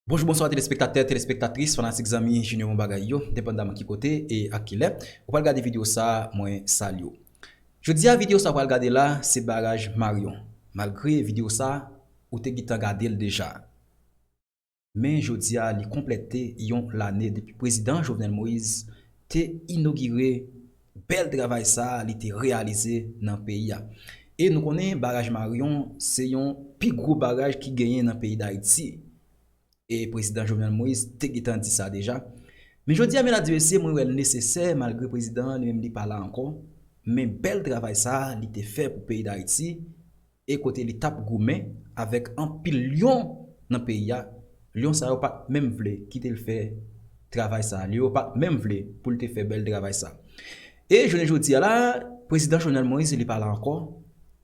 Bonjou bonswa telespektatè, telespektatris, fanatik zanmi Junior Bon Bagay yo, depandaman ki kote e ak kilè ou pral gade video sa a mwen salye w. Jodi a video sa ou pral gade la se baraj Marion, malgre video sa ou te gintan gade l deja. men jodi a li konplète yon lane depi prezidan Jovenel Moise te inogire bèl travay sa li te reyalize nan peyi a. E nou konnen baraj Marion se yon pi gwo baraj ki genyen nan peyi Dayiti. E prezidan Jovenel Moise te gentan di sa deja. Men jodi a medam di mesye mwen wè l nesesè malgre prezidan an li menm li pa la ankò men bèl travay sa li te fè pou peyi Dayiti e kote li tap goumen avèk anpil lyon nan peyi a, lyon sa yo pat menm vle kitel fè travay sa, lyon yo pat menm vle poul te fè bèl travay sa. E jounen jodia la prezidan Jovenel Moïse li pa la ankò,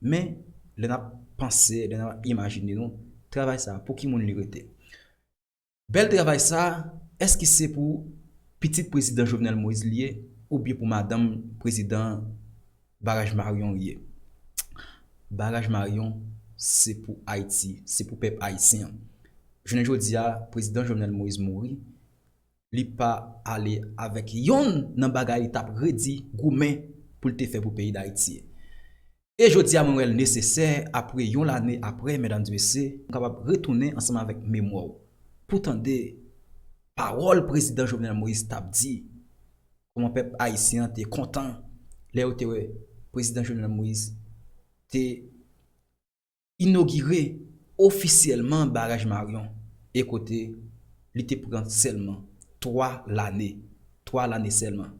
men lè nap panse, lè nap imajine nou travay sa pou ki moun li rete? Bèl travay sa, èske se pou pitit prezidan Jovenel Moïse li ye oubyen pou madanm prezidan Baraj Marion li ye? Baraj Marion se pou Ayiti, se pou pèp ayisyen an. Jounen jodi a, prezidan Jovenel Moïse mouri, li pa ale avèk yonn nan bagay li t ap redi goumen pou l te fè pou peyi Dayiti. E jodia mwen wèl nesesè apre yon lane apre medams mesye nou kapab retounen ansanm avèk memwa w pou tande pawòl prezidan Jovenel Moïse tap di kòman pèp ayisyen an te kontan lè yo te wè prezidan Jovenel Moïse te inogire ofisyèlman baraj Marion e kote li te pran sèlman 3 lane 3 lane sèlman.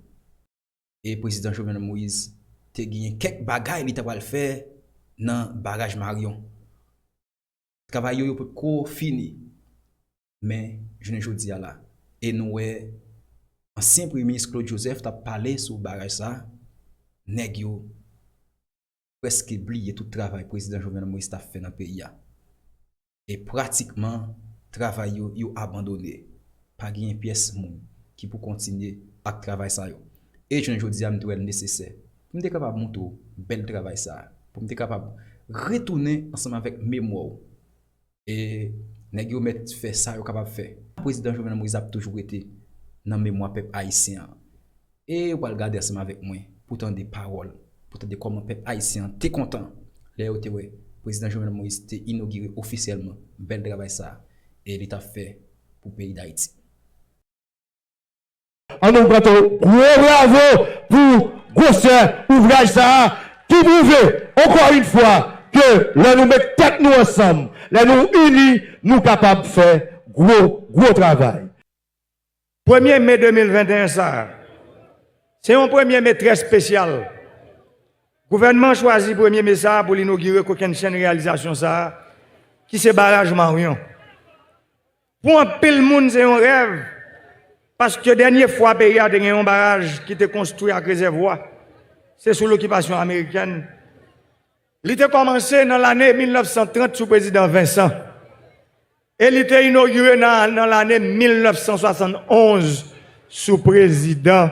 e Prezidan Jovenel Moïse te genyen kèk bagay li ta pral fè nan baraj Marion. Travay yo yo potko fini, men jounen jodi a la e nou wè ansyen Premye Minis Claude Joseph t ap pale sou baraj sa, nèg yo preske bliye tout travay Prezidan Jovenel Moïse t ap fè nan peyi a. E pratikman travay yo, yo abandone. Pa genyen pyès moun ki pou kontinye ak travay sa yo. E jounen jodi a m te wè l nesesè pou m te kapab montre w bèl travay sa a, pou m te kapab retounen ansanm avèk memwa w E nèg yo mèt fè sa yo kapab fè. Prezidan Jovenel Moïse ap toujou rete nan memwa pèp ayisyen an. E ou pral gade ansanm avèk mwen pou w tande pawòl, pou w tande kòman pèp ayisyen an te kontan lè yo te wè Prezidan Jovenel Moïse te inogire ofisyèlman bèl travay sa a e li t ap fè pou peyi Dayiti. An nou bat yon gwo bravo pou gwosè ouvraj sa a ki pwouve ankò yn fwa ke lè nou met tèt nou ansanm, lè nou ini, nou kapab fè gwo, gwo travay. Premye me 2021 sa a, se yon premye me trè spesyal. Gouvènman an chwazi premye me sa a pou l inogire kokennchenn reyalizasyon sa a ki se Baraj Maryon. Pou anpil moun se yon rèv, paske dènye fwa peyi a te gen yon baraj ki te konstwi ak rezèvwa, se sou lokipasyon amerikèn. Li te kòmanse nan lane 1930 sou prezidan Vincent, e li te inogire nan lane 1971 sou prezidan.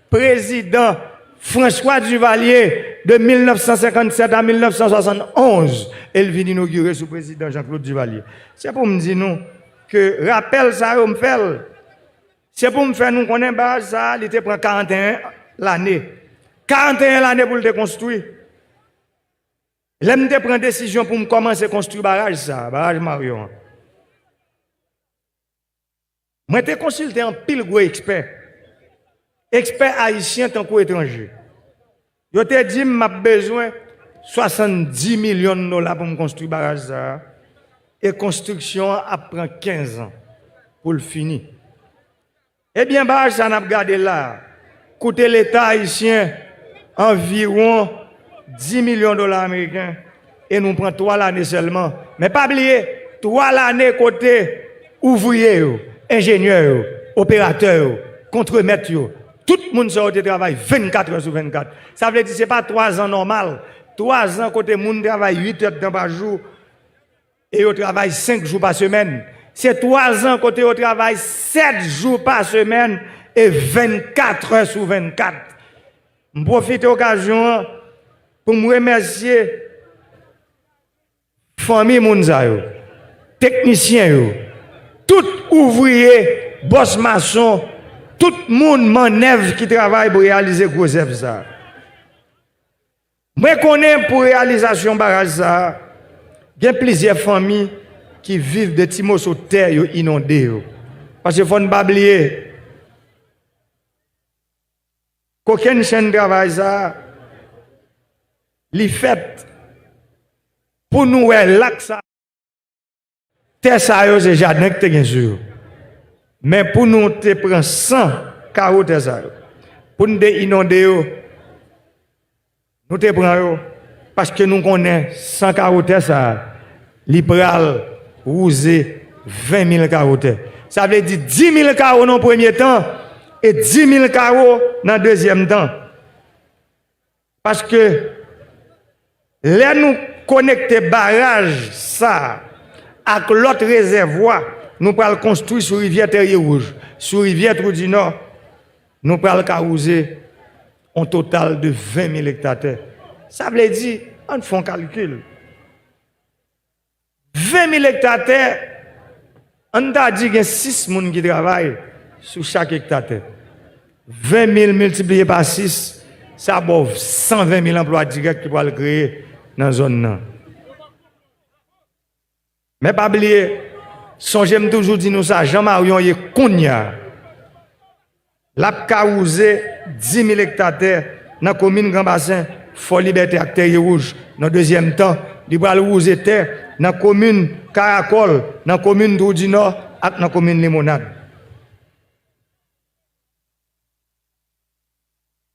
Prezidan François Duvalier, de 1957 a 1971, e l vin inogire sou Prezidan Jean Claude Duvalier. Se pou m di nou ke rapèl sa yo m fè l, se pou m fè nou konnen baraj sa a li te pran 41 lane. 41 lane pou l te konstwi. Lè m te pran desizyon pou m kòmanse konstwi baraj sa a, baraj Marion an, Mwen te konsilte anpil gwo ekspè, ekspè ayisyen tankou etranje. Yo te di m m ap bezwen 70 milyon dola pou m konstwi baraj sa a e konstriksyon an ap pran 15 an pou l fini. Ebyen baraj sa a n ap gade la a, Koute leta ayisyen anviwon 10 milyon dola ameriken e nou pran 3 lane sèlman. Men pa bliye, 3 lane kote ouvriye yo, enjenyè yo, operatè yo, kontremèt yo, tout moun sa yo te travay 24 è sou 24. Sa vle di se pa 3 zan nòmal, 3 zan kote moun travay 8 èdtan pa jou. E yo travay senk jou pa semèn. Se twazan kote yo travay sèt jou pa semèn e vennkatrè sou vennkat. M pwofite okazyon an pou m remèsye fanmi moun sa yo, teknisyen yo, tout ouvriye, bòs mason, tout moun mannèv ki travay pou reyalize gwo zèv sa. Mwen konnen pou reyalizasyon baraj sa a, gen plizyè fanmi ki viv de ti moso tè yo inonde yo. Paske fò n pa bliye, kokenn chenn travay sa a, li fèt pou nou wè lak sa a. Tè sa yo se jaden ki te gen sou yo. Men pou nou te pran san karo tè sa yo, pou nou te inonde yo, nou te pran yo, paske nou konnen san karo tè sa a, li pral wouze ven mil karo tè. Sa vle di di mil karo nan premye tan, e di mil karo nan dezyèm tan. Paske lè nou konekte baraj sa ak lòt rezèvwa nou pral konstwi sou rivyè Tèrye Wouj, sou rivyè Twou di Nò, nou pral ka wouze on total de 20 mil ekta tè. Sa vle di, ann fè on kalkil. 20 mil ekta tè, an n ta di gen 6 moun ki travay sou chak ekta tè. 20 mil miltipliye pa 6, sa ba w 120 mil anplwa dirèk ki pral kreye nan zòn nan. Men pa bliye, sonje m toujou di nou sa, Jean Marion ye kounya. L ap ka wouze 10 mil ekta tè nan komin Gran Basen, Fò Libète ak Tèrye Wouj. Nan dezyèm tan, li pral wouze tè nan komin Karakòl, nan komin Twoudinò ak nan komin Limonad.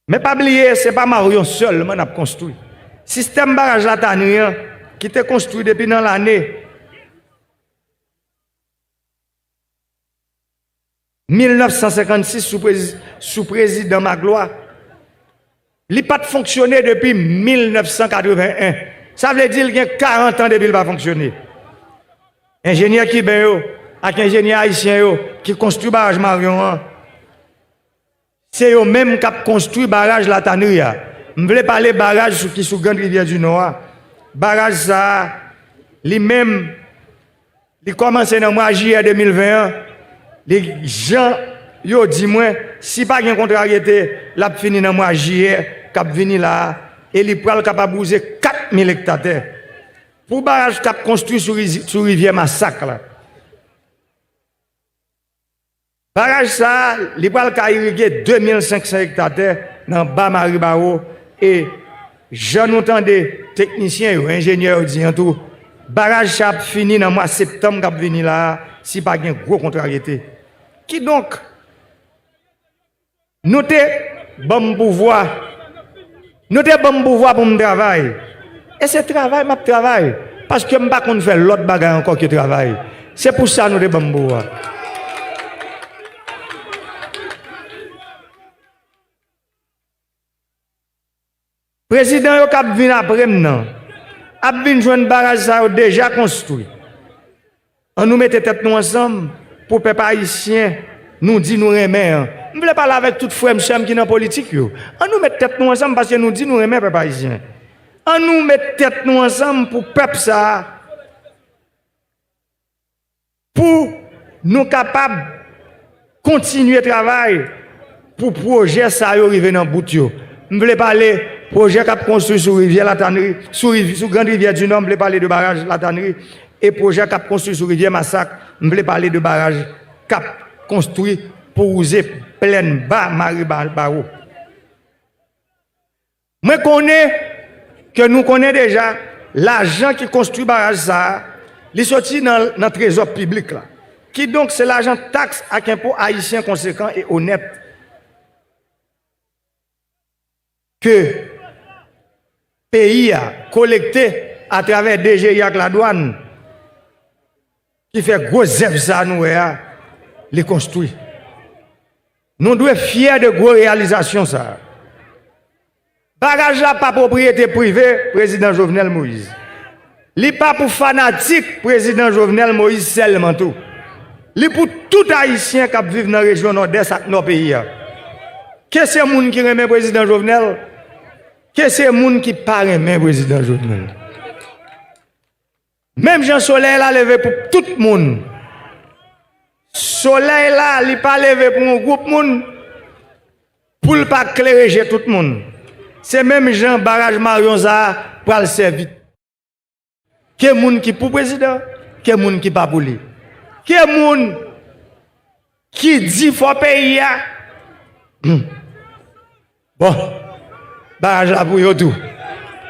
Men pa bliye, se pa Maryon sèlman n ap konstwi. Sistèm baraj Latani an, ki te konstwi depi nan lane. 1956 sou prezidan Maglwa, li pa t fonksyone depi 1981, sa vle di l gen 40 an depi l pa fonksyone. Enjenyè kiben yo ak enjenyè ayisyen yo ki konstwi baraj Maryon an, Se yo menm k ap konstwi baraj Latanri a. M vle pale baraj sou ki sou Grand Rivyè di Nò a. Baraj sa a, li menm, li kòmanse nan mwa jiyè 2020 an. Li, jan yo di mwen, si pa gen kontraryete, l ap fini nan mwa jiyè k ap vini la a e li pral kapab wouze 4 mil ekta tè. Pou baraj k ap konstwi sou rivyè Masak la. Baraj sa a, li pral ka irige 2500 ekta tè nan ba Maribaro e, jan nou tande teknisyen yo, enjenyè yo di an tou, baraj sa ap fini nan mwa septanm k ap vini la a si pa gen gwo kontraryete. Kidonk. Nou te ban m pouvwa. Nou te ban m pouvwa pou m travay. E se travay m ap travay, paske m pa konn fè lòt bagay ankò ke travay. Se pou sa nou te ban m pouvwa. Prezidan yo kap vin apre m nan ap vin jwenn baraj sa yo deja konstwi. An nou mete tèt nou ansanm pou pèp ayisyen nou di nou renmen an. M vle pale avèk tout frè m sè m ki nan politik yo. An nou met tèt nou ansanm paske nou di nou renmen pèp ayisyen. An nou met tèt nou ansanm pou pèp sa a. Pou Nou kapab Kontinye travay Pou pwojè sa yo rive nan bout yo M vle pale pwojè kap konstwi sou rivyè latanri sou grand rivyè dinò m vle pale de baraj latanri e pwojè kap konstwi sou rivyè masak m vle pale de baraj kap konstwi pou wouze plèn ba mare bawo. Mwen konnen ke nou konnen deja lajan ki konstwi baraj sa a, li soti nan trezò piblik la. Kidonk se lajan taks ak enpo ayisyen konsekan e onèt ke peyi a kolekte atravè DGI ak ladwann Ki fè gwo zèv sa nou wè a, li konstwi. Nou dwe fyè de gwo reyalizasyon sa a. Baraj la pa pwopriyete prive Prezidan Jovenel Moïse. Li pa pou fanatik Prezidan Jovenel Moïse sèlman tou. Li pou tout Ayisyen k ap viv nan rejyon Nòdès ak Nò peyi a. Ke se moun ki renmen Prezidan Jovenel, ke se moun ki pa renmen Prezidan Jovenel. Menm jan solèy la leve pou tout moun. Solèy la li pa leve pou yon gwoup moun, pou l pa klere je tout moun. Se menm jan baraj Maryon sa pral sèvi. Ke moun ki pou prezidan, ke moun ki pa pou li. Ke moun ki di fò peyi a. Bon baraj la pou yo tou.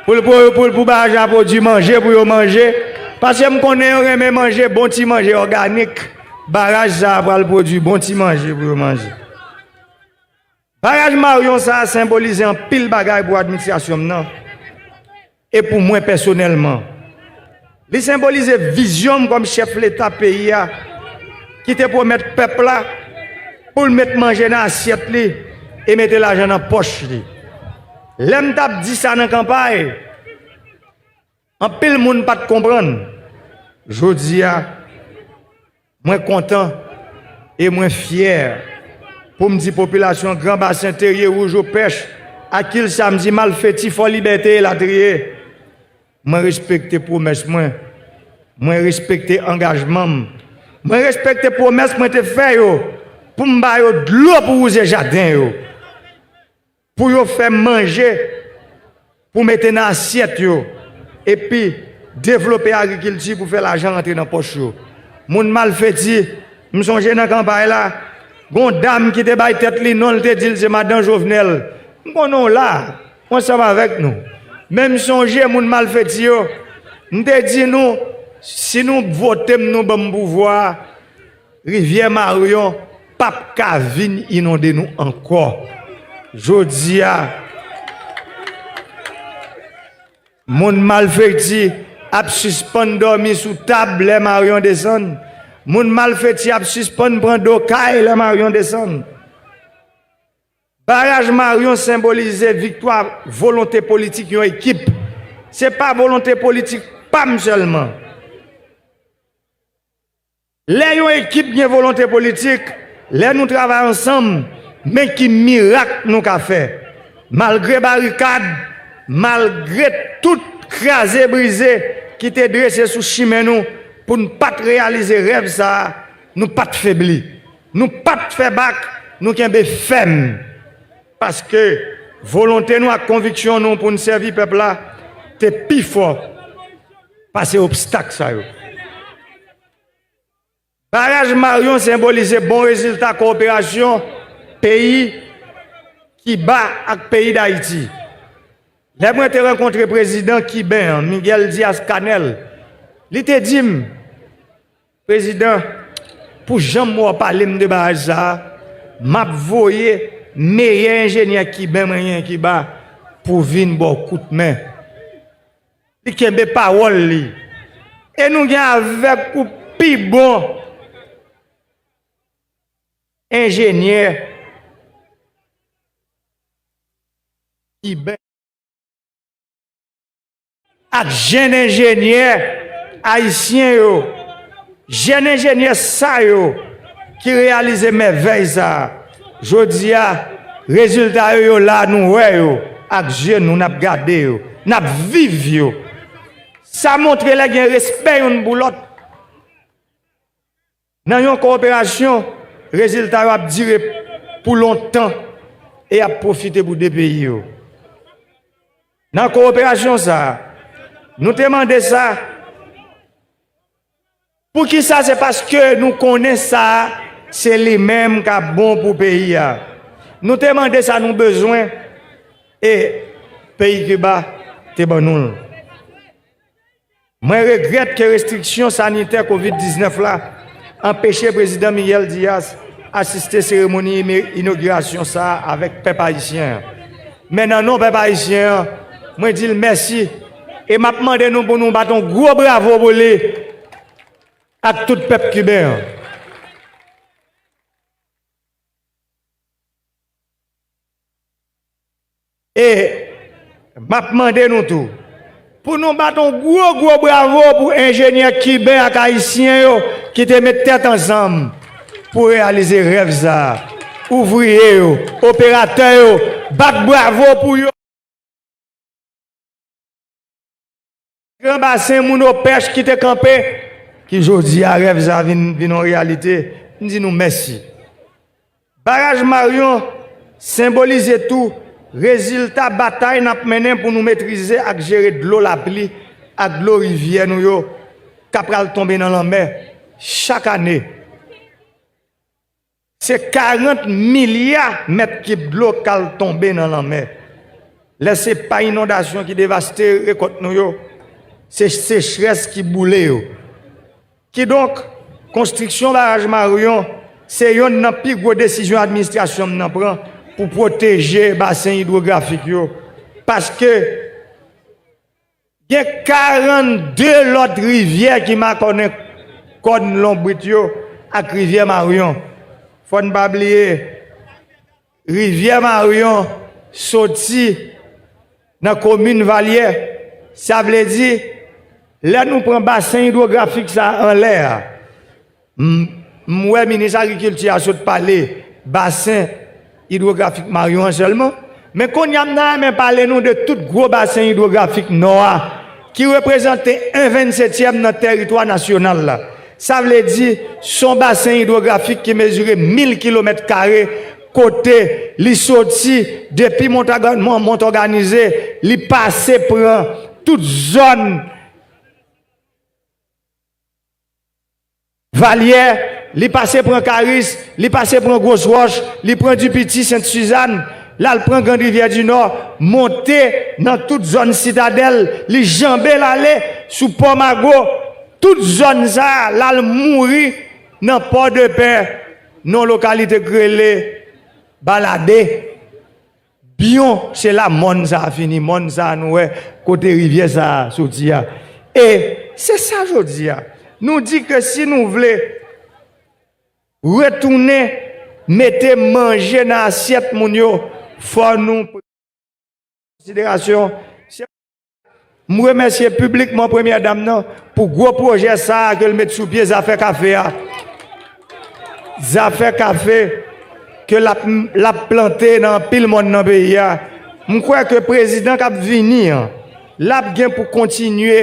Pou l pou l pou baraj la pwodui manje pou yo manje. Paske m konnen yo renmen manje bon ti manje òganik. Baraj sa a pral pwodui bon ti manje pou yo manje. Baraj Maryon sa a senbolize anpil bagay pou administrasyon m nan. E pou mwen pèsonèlman, li senbolize vizyon m kòm chèf Leta peyi a ki te pwomèt pèp la pou l met manje nan asyèt li e mete lajan nan pòch li. Lè m t ap di sa nan kanpay, anpil moun pa t konprann. Jodi a. Mwen kontan e mwen fyè pou m di popilasyon Gran Basen, Terye, Roujo, Pèch, Akil, Samdi, Malfeti, Fò Libète elatriye, mwen respekte pwomès mwen, mwen respekte angajman m, mwen respekte pwomès mwen te fè yo pou m ba yo dlo pou wouze jaden yo. Pou yo fè manje pou mete nan asyèt yo epi devlope agrikilti pou fè lajan rantre nan pòch yo. Moun malfeti, m sonje nan kanpay la, gen yon dam ki te bay tèt li non l te di l se madan Jovenel. M konnen w la, w ansanm avèk nou. Men m sonje moun malfeti yo, m te di nou si nou vote m nou ban m pouvwa a, Rivyè Maryon pap ka vin inonde nou ankò. Jodi a, moun malfekti ap sispann dòmi sou tab lè Maryon desann. Moun malfeti ap sispann pran do kay lè Maryon desann. Baraj Maryon senbolize viktwa volonte politik yon ekip. Se pa volonte politik pa m sèlman. Lè yon ekip gen volonte politik, lè nou travay ansanm, men ki mirak nou ka fè. Malgre barikad, malgre tout kraze brize ki te drese sou chimen nou pou n pa t reyalize rèv sa a, nou pa t febli. Nou pa t fè bak, nou kenbe fèm. Paske, volonte nou ak konviksyon nou pou n sèvi pèp la te pi fò pase obstak sa yo. Baraj Marion senbolize bon rezilta kowoperasyon peyi Kiba ak peyi Dayiti. Lè mwen te rankontre prezidan kiben an, Miguel Diaz-Canel, li te di m, Prezidan, pou jan mwen w pale m de baraj sa a, m ap voye meyè enjenyè kiben mwen genyen Kiba pou vin ba w kout men. Li kenbe pawòl li. E nou gen avèk pou pi bon enjenyè iben ak jenn enjenyè ayisyen yo. Jèn enjenyè sa yo ki reyalize mèvèy sa a jodi a, rezilta yo yo la nou wè yo ak zye nou, n ap gade yo, n ap viv yo. Sa montre lè gen respè youn pou lòt nan yon kowoperasyon, rezilta yo ap dire pou lontan e y ap pwofite pou de peyi yo. Nan kowoperasyon sa a, nou te mande sa. Poukisa se paske nou konnen sa se li menm kap bon pou peyi a. Nou te mande sa nou bezwen e peyi Kiba te ban nou l. Mwen regrèt ke restriksyon sanitè kovid 19 la anpeche Prezidan Miguel Diaz asiste seremoni inogirasyon sa avèk pèp ayisyen an. Men nan non pèp ayisyen an, mwen di l mèsi E map mande nou pou nou bat yon gwo bravo pou li ak tout pèp kiben an. E map mande nou tou pou nou bat yon gwo gwo bravo pou enjenyè kiben ak ayisyen yo ki te met tèt ansanm pou reyalize rèv sa a. Ouvriye yo, operatè yo, bat bravo pou yo. Gran basen moun opèch ki te kanpe, ki jodi a rèv sa vin vin yon reyalite, m di nou mèsi. Baraj Maryon senbolize tou rezilta batay n ap mennen pou nou metrize ak jere dlo lapli ak dlo rivyè nou yo k apral tonbe nan lanmè chak ane. Se 40 milya mèt kib dlo k al tonbe nan lanmè. Lè se pa inondasyon ki devaste rekòt nou yo, se sechrès ki boule yo. Kidonk, konstriksyon baraj Maryon se yonn nan pi gwo desizyon administrasyon m nan pran pou pwoteje basen idwografik yo, paske, Gen 42 lòt rivyè ki makònen kòn lonbrit yo ak rivyè Maryon. Fò n pa bliye, rivyè Maryon soti nan komin Valyè. Sa vle di, lè nou pran basen idwografik sa a anlè a, M wè minis agrikilti a sot pale basen idwografik maryon an sèlman, men kounye a m ta renmen pale nou de tout gwo basen idwografik nò a ki reprezante 1 vennsetyèm nan tèritwa nasyonal la. Sa vle di, s on basen idwografik ki mezire mil kilomèt kare kote li soti depi Montòganize, li pase pran tout zòn. Valyè, li pase pran Karis, li pase pran Gros Roche, li pran Dipiti, Sent Sizann, l al pran Grand Rivyè di Nò, monte nan tout zòn Sitadèl, li janbe l ale sou Pò Mago, tout zòn sa a l al mouri nan Pòdepè nan yon lokalite k rele Balade. Biyon se la mòn sa a fini, mòn sa a nou wè kote rivyè sa a soti a. E se sa jodi a, nou di ke si nou vle retounen mete manje nan asyèt moun yo, fò nou pran an konsiderasyon se. M remèsye piblikman Premyè Dam nan pou gwo pwojè sa a ke l met sou pye zafè kafe a. Zafè kafe ke l ap plante nan anpil mòn nan peyi a. M kwè ke Prezidan k ap vini an, l ap gen pou kontinye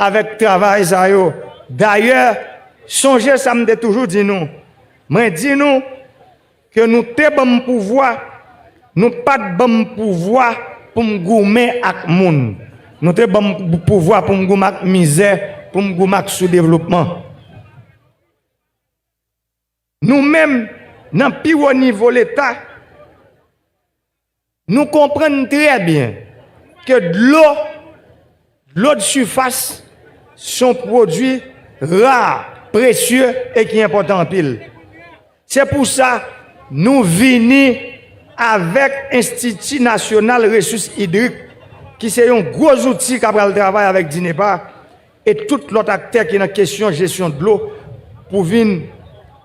avèk travay sa yo. Dayè, sonje sa m te toujou di nou, mwen di nou, Ke nou te ban m pouvwa, nou pa t ban m pouvwa pou m goumen ak moun. Nou te ban m pouvwa pou m goumen ak mizè, pou m goumen ak soudevlopman. Nou menm, nan pi wo nivo Leta, Nou konprann trè byen ke dlo, dlo de sifas, se yon pwodui ra, presye e ki enpòtan anpil. Se pou sa nou vini avèk Enstiti Nasyonal Resous Idrik ki se yon gwo zouti ka pral travay avèk DINEPA, e tout lòt aktè ki nan kesyon jesyon dlo pou vin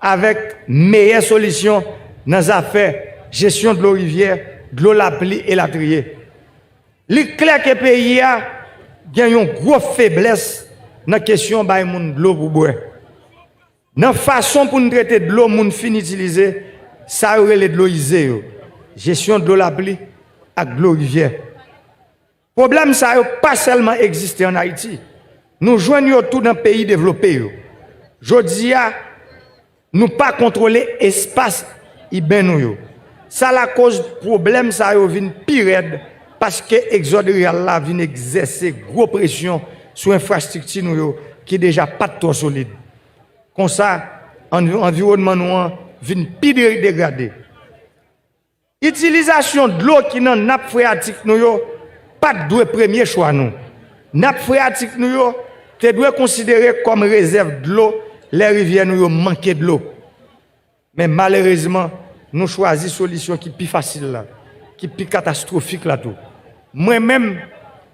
avèk meyè solisyon nan zafè jesyon dlo rivyè, dlo lapli elatriye. Li klè ke peyi a gen yon gwo feblès nan kesyon bay moun dlo pou bwè. Nan fason pou n trete dlo moun fin itilize, sa yo rele dlo ize yo, jesyon dlo lapli ak dlo rivyè. Pwoblèm sa yo pa sèlman egziste ann Ayiti, nou jwenn yo tou nan peyi devlope yo. Jodi a, nou pa kontwole espas iben nou yo. Sa lakoz pwoblèm sa yo vin pi rèd paske egzòd riral la vin egzèse gwo presyon sou enfrastrikti nou yo ki deja pa t twò solid. Konsa, anviwònman nou an vin pi degrade. Itilizasyon dlo ki nan nap freyatik nou yo pa t dwe premye chwa nou. Nap freyatik nou yo te dwe konsidere kòm rezèv dlo lè rivyè nou yo manke dlo. Men malerezman, nou chwazi solisyon ki pi fasil la, ki pi katastwofik la tou. Mwen menm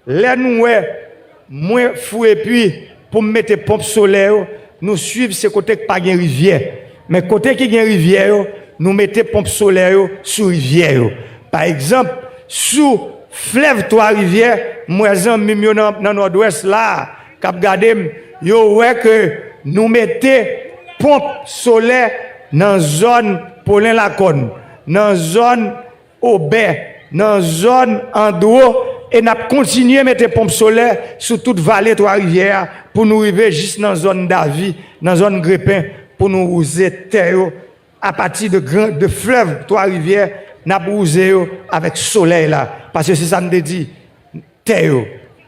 lè nou wè mwen fou epi pou m mete ponp solè yo nou swiv se kote k pa gen rivyè men kote ki gen rivyè yo nou mete ponp solè yo sou rivyè yo pa egzanp sou flèv twa rivyè m wè zanmi m yo nan nòdwès la k ap gade m yo wè ke nou mete ponp solè nan zòn polen lakòn nan zòn Aubin, nan zòn Andro e n ap kontinye mete ponp solè sou tout vale Twa Rivyè a pou nou rive jis nan zòn Davi, nan zòn Grepen pou nou wouze tè yo apati de gran de flèv Twa Rivyè n ap wouze yo avèk solèy la paske se sa n te di tè yo,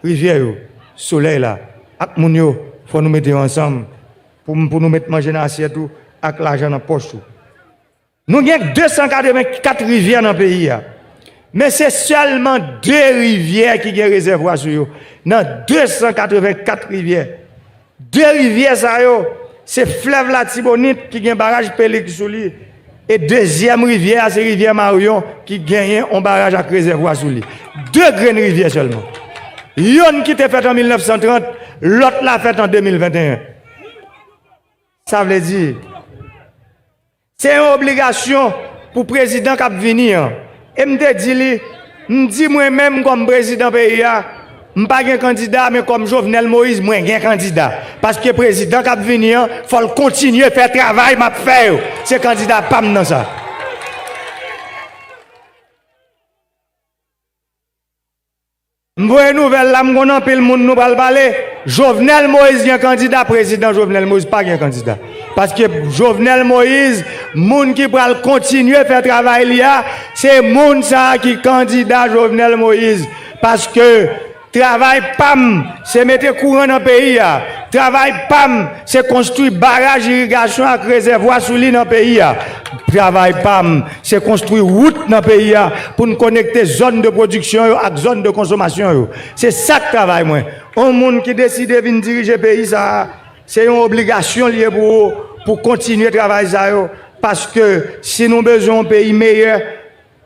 rivyè yo, solèy la ak moun yo fò nou mete yo ansanm pou pou nou met manje nan asyèt ou ak lajan nan pòch ou. Nou gen 284 rivyè nan peyi a, men se sèlman 2 rivyè ki gen rezèvwa sou yo, nan 284 rivyè. 2 rivyè sa yo, se flèv Latibonit ki gen baraj Pelig sou li, e dezyèm rivyè a se rivyè Maryon ki genyen on baraj ak rezèvwa sou li. 2 grenn rivyè sèlman. Yonn ki te fèt an 1930, lòt la fèt an 2021. Sa vle di. Se yon obligasyon pou prezidan k ap vini an. E m te di li, m di mwen menm kòm prezidan peyi a, m pa gen kandida men kòm Jovenel Moïse mwen gen kandida. Paske prezidan k ap vini an fò l kontinye fè travay m ap fè yo. Se kandida pa m nan sa. M voye nouvèl la m konn anpil moun nou pral pale Jovenel Moïse gen kandida prezidan Jovenel Moïse pa gen kandida paske Jovenel Moïse moun ki pral kontinye fè travay li a se moun sa ki kandida Jovenel Moïse paske travay pam se mete kouran nan peyi a travay pam Se konstwi baraj irigasyon ak rezèvwa sou li nan peyi a. Travay pa m, se konstwi wout nan peyi a pou n konekte zòn de pwodiksyon yo ak zòn de konsomasyon yo. Se sa k travay mwen. On moun ki deside vin dirije peyi sa a, se yon obligasyon li ye pou ou pou kontinye travay sa yo, paske si nou bezwen on peyi meyè,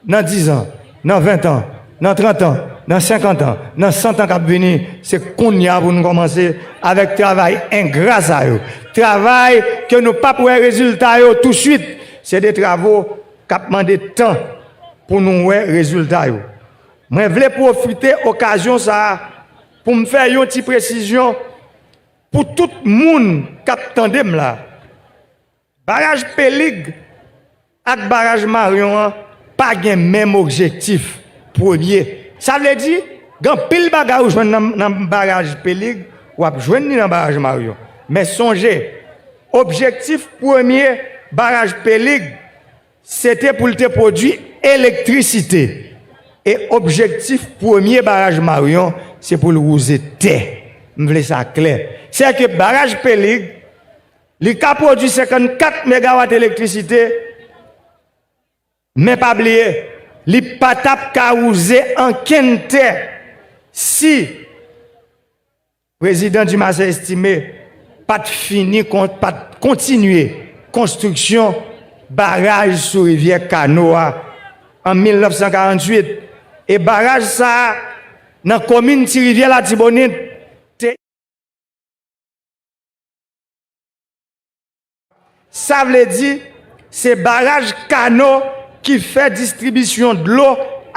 Nan dizan, nan ventan, nan trantan, nan senkantan, nan santan k ap vini, se kounye a pou nou kòmanse avèk travay engra sa yo. Travay ke nou pap wè rezilta yo tousuit. Se de travo k ap mande tan pou nou wè rezilta yo. Mwen vle pwofite okazyon sa a pou m fè yon ti presizyon pou tout moun k ap tande m la. Baraj Pelig ak Baraj Maryon an pa gen menm objektif premye. Sa vle di, gen anpil bagay ou jwenn nan Baraj Pelig, w ap jwenn li nan Baraj Maryon. Men sonje, objektif premye Baraj Pelig se te pou l te pwodui elektrisite. E objektif premye Baraj Maryon se pou l wouze tè. M vle sa klè. Sèke Baraj Pelig. Li ka pwodui 54 megawat elektrisite, men pa bliye, li pa t ap ka wouze ankenn tè si Prezidan Dumarsais Estimé pa t fini, pa t kontinye konstriksyon baraj sou rivyè Kano a an 1948. E baraj sa a, nan komin Ti Rivyè Latibonit, te. Sa vle di, se baraj Kano ki fè distribisyon dlo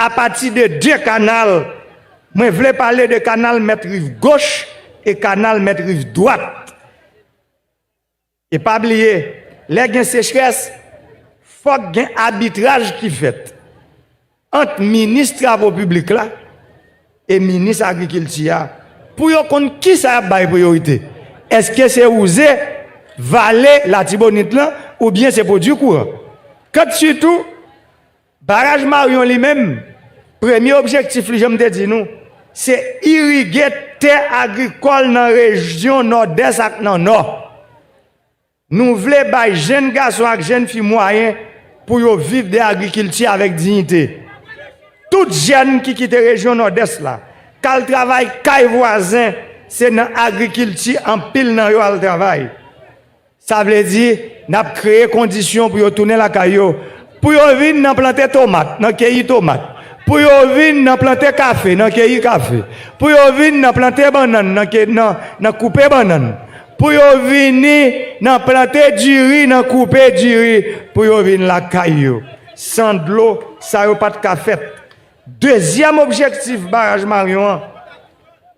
apati de 2 kanal. Mwen vle pale de kanal mèt riv goch e kanal mèt riv dwat. E pa bliye, lè gen sechrès, fòk gen abitraj ki fèt. ant minis travo piblik la e minis agrikilti a pou yo konn kisa y ap bay priyorite, èske se wouze vale Latibonit lan oubyen se pwodui kouran. Kant sitou baraj Maryon li menm, premye objektif li jan m te di nou, se irige tè agrikòl nan rejyon Nòdès ak nan Nò. Nou vle bay jenn gason ak jenn fi mwayen pou yo viv de agrikilti avèk diyite. Tout jèn ki kite rejyon Nòdès la, k al travay kay vwazen, se nan agrikilti anpil nan yo al travay. Sa vle di, n ap kreye kondisyon pou yo tounen lakay yo, pou yo vin nan plante tomat, nan keyi tomat, pou yo vin nan plante kafe, nan keyi kafe, pou yo vin nan plante bannann, nan koupe bannann. Pou yo vini nan plante diri nan koupe diri pou yo vin lakay yo. San dlo, sa yo pa t ka fèt. Dezyèm objektif baraj Maryon an.